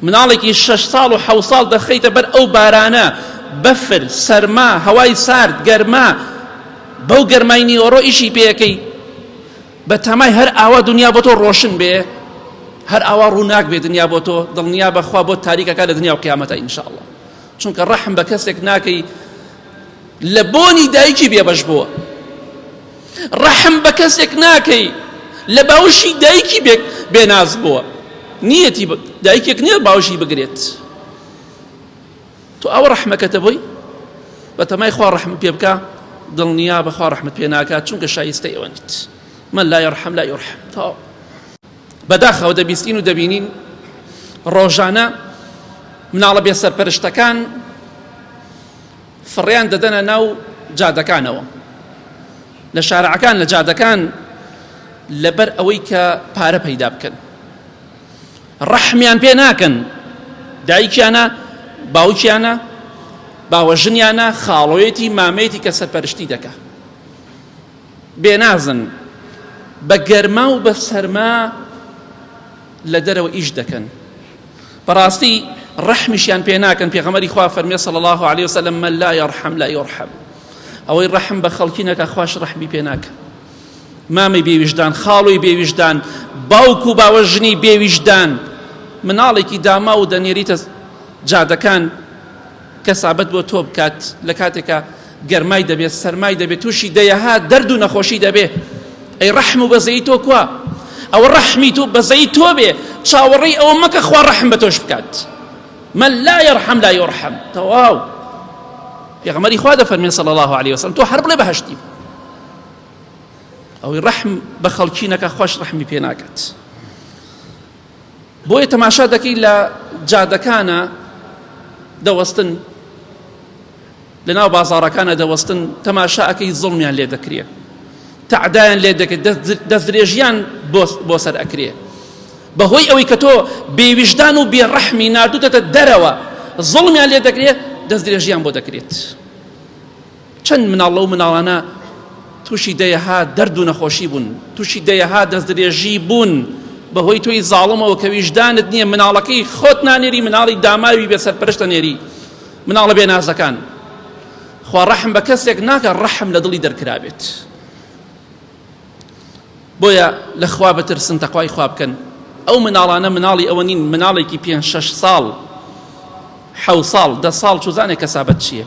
مناڵێکی شەش ساڵ و حەوت ساڵ دەخەیتە بەر ئەو بارانە، بەفر، سەرما، هەوای سارد، گەرما، بەو گەرمای نیوەڕۆ ئیشی پێ ئەکەی؟ بە تەمای هەر ئاوا دونیا بۆ تۆ ڕۆشن بێ؟ هەر ئاوا ڕووناک بێ دنیا بۆ تۆ؟ دڵنیابە خوا بۆت تاریک ئەکات لە دنیا و قیامەتا ان شاء اللە، چونکە ڕەحم بە کەسێک ناکەی لە بۆنی دایکی بێبەش بووە ڕەحم بە کەسێک ناکەی لە باوشی دایکی بێک بێناز بووە نیەتی دایکێک نیە باوشی بگرێت تو ئەوە ڕەحمەکەتە بۆی بە تەمای خوا ڕەحم پێ بکە دڵنیا بەخوا ڕەحمە پێ ناکات چونکە شایستە ئێوەنیت من لا یڕحم لا یڕحم تاو بەداخەوە دەبیستین و دەبینین ڕۆژانە مناڵە بێ سەرپەرشتەکان فڕیان دەدەنە ناو جادەکانەوە لە شارعەکان لە جادەکان لەبەر ئەوەی کە پارە پەیدا بکەن ڕەحمیان پێ ناکەن دایکیانە باوکیانە باوە ژنیانە خاڵۆیەتی مامەیەتی کە سەرپەرشتی دەکە بێنازن، بە گەرما و بە سەرما لە دەرەوە ئیش دەکەن، بەڕاستی ڕەحمیشیان پێ ناکەن، پێغەمەری خوا فەرمێ صلی الله علیه وسلم من لا يرحم لا يرحم ئەوەی ڕەحم بە خەڵکی نەکە خواش ڕەحمی پێ ناکە مامەی بێویژدان خاڵۆی بێویژدان باوک و باوە ژنی بێویژدان مناڵێکی داما و دەنێریتە جادەکان کەسابەت بۆ تۆ بکات لە کاتێکا گەرمای دەبێت سەرمای دەبێت تووشی دەیەها دەرد و نەخۆشی دەبێت ئەی ڕەحم و بەزەی تۆ کوا ئەوە ڕەحمی تۆ بەزەی تۆ بێ چاوەڕێی ئەوە مەکە خوا ڕەحم بە تۆش بکات من لا يرحم لا يرحم تەواو پێغەمەری خوا دەفەرمێن صلی الله عليه وسلم تۆ هەر بڵێ بەهشتی ئەوەی ڕەحم بە خەڵکی نەکە خۆش ڕەحمی پێ ناکات بۆیە تەماشا دەکەی لە جادەکانە دەوەستن لەناو بازارەکانە دەوەستن تەماشاکەی زڵمیان لێ دەکرێت تعدایان لێ دەکرێت دەستدرێژیان بۆ سەر ئەکرێ بەهۆی ئەوەی کە تۆ بێویژدان و بێڕەحمی نردوتەتە دەرەوە زڵمیان لێ دەکرێت دەستدرێژیان بۆ دەکرێت. چەند مناڵ لەو مناڵانە تووشی دەیەها دەرد و نەخۆشی بوون تووشی دەیەها دەستدرێژی بوون بەهۆی تۆی زاڵمەوە کە ویژدانت نییە مناڵەکەی خۆت نانێری مناڵی داماوی بێ سەرپەرشتە نێری مناڵە بێ نازەکان خوا ڕەحم بە کەسێک ناکە ڕەحم لە دڵی دەرکرابێت بۆیە لە خوا بترسن تەخوای خوا بکەن ئەو مناڵانە مناڵی ئەوە نین مناڵێکی پێ شش ساڵ حەو ساڵ دە ساڵ چوزانێک کەسابەت چییە